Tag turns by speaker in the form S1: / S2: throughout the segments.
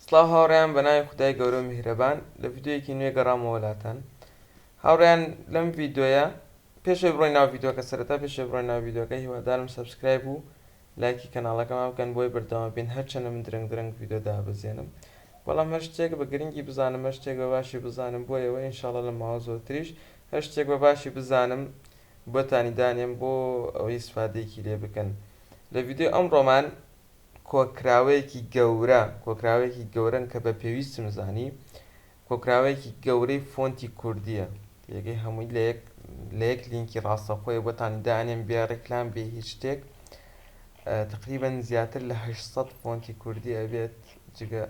S1: سڵاو هاوڕێیان بەناوی خودای گەورەو میهرەبان لە ڤیدیۆیەکی نوێ گەڕامەوە لاتان هاوڕێیان لەم ڤیدیۆیە پێش ئەوەی بڕۆین ناو ڤیدیۆکە سەرەتا پێش ئەوەی بڕۆین ناو ڤیدیۆکە هیوادارم سەبسکرایب و لایکی کەناڵەکەمان بکەن بۆی بەردەوام بین هەرچەنە من درەنگ درەنگ ڤیدیۆ دابەزێنم بەڵام هەر شتێک بە گرنگی بزانم هەر شتێک بە باشی بزانم بۆ ئێوە ئینشاڵا لە ماوە زۆرتریش هەر شتێک بە باشی بزانم بۆتانی دانێم بۆ ئەوەی ئیسفادەیەکی لێ بکەن لە ڤیدیۆی ئەمڕۆمان کۆکراوەیەکی گەورە، کۆکراوەیەکی گەورەن کە بە پێویستم زانی، کۆکراوەیەکی گەورەی فۆنتی کوردییە، تێگەی هەمووی لە یەک لە یەک لینکی ڕاستەوخۆیە بۆتانی دانێم بێ ڕیکلام بێ هیچ شتێک، تەقریبەن زیاتر لە هەشت سەد فۆنتی کوردی ئەبێت جگە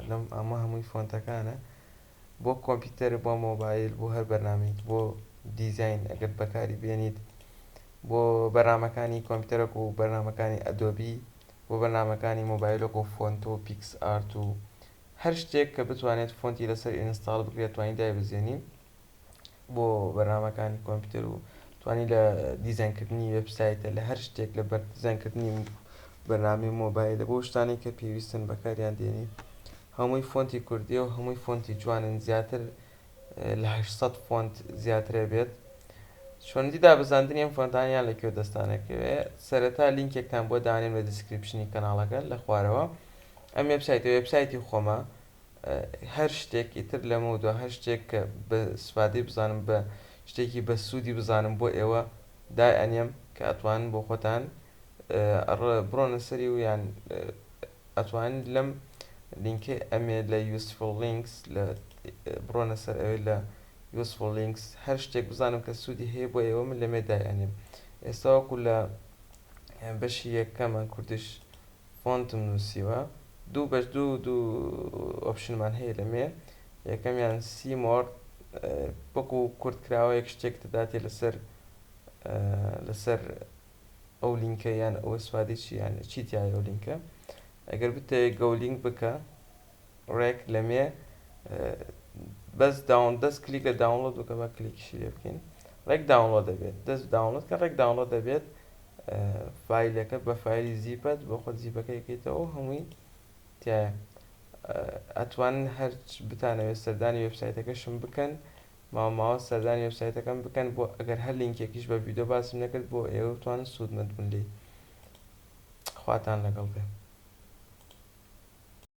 S1: لەم ئەمە هەمووی فۆنتەکانە. بۆ کۆمپیوتەر بۆ مۆبایل بۆ هەر بەرنامەیەک بۆ دیزاین ئەگەر بەکاری بێنیت بۆ بەرنامەکانی کۆمپیوتەر وەکو بەرنامەکانی ئەدۆبی بۆ بەرنامەکانی مۆبایل وەکو فۆنتۆ و پیکس ئارت و هەر شتێک کە بتوانێت فۆنتی لەسەر ئینستاڵ بکرێت توانی دایبەزێنی بۆ بەرنامەکانی کۆمپیوتەر و توانی لە دیزاین کردنی وێب سایتە لە هەر شتێک لە بەر دیزاین کردنی بەرنامەی مۆبایلە بۆ شتانێک کە پێویستن بەکاریان دێنی هەمووی فۆنتی کوردیە و هەمووی فۆنتی جوانن زیاتر لە هەشت سەد فۆنت زیاترە بێت چۆنیتی دابەزاندنی ئەم فۆنتان یان لە کوێ دەستانەکەوێ سەرەتا لینکێکتان بۆ دانێن بە دیسکریپشنی کەناڵەکە لە خوارەوە ئەم وێبسایتە وێبسایتی خۆمە هەر شتێک ئیتر لەمەو دوا هەر شتێک کە بە سفادەی بزانم بە شتێکی بە سوودی بزانم بۆ ئێوە دای ئەنێم کە ئەتوانن بۆ خۆتان بڕۆنە سەری و یان ئەتوانن لەم لینکەی ئەمێ لە یوسفڵ لینکس لە بڕۆنە سەر ئەوێ لە یوسفڵ لینکس هەر شتێک بزانم کە سوودی هەیە بۆ ئێوە من لەمێ دای ئەنێم ئێستا وەکو لە بەشی یەکەمە کوردش فۆنتم نوسیوە دوو بەش دوو دوو ئۆپشنمان هەیە لەمێ یەکەمیان سی مۆر وەکو کورت کراوە یەک شتێک دەداتێ لەسەر لەسەر ئەو لینکە یان ئەوە سوادی چیان چی تایە و لینکە ئەگەر بتەوێت گەولینگ بکە ڕێک لەمێ بەس داون دەست کلیک لە داونلۆد بکە بە کلیکیشی لێ بکەین ڕێک داونلۆد دەبێت دەست داونلۆد کە ڕێک داونلۆد دەبێت فایلەکە بە فایلی زیپت بۆ خۆت زیپەکە یەکەیتەوە و هەمووی تایە ئەتوان هەرچ بتانەوێت سەردانی وێبسایتەکەشم بکەن ماوە ماوە سەردانی وێبسایتەکەم بکەن بۆ ئەگەر هەر لینکێکیش بە ڤیدۆ باسم نەکرد بۆ ئێوە بتوان سوودمەند بن لێی خواتان لەگەڵ بێ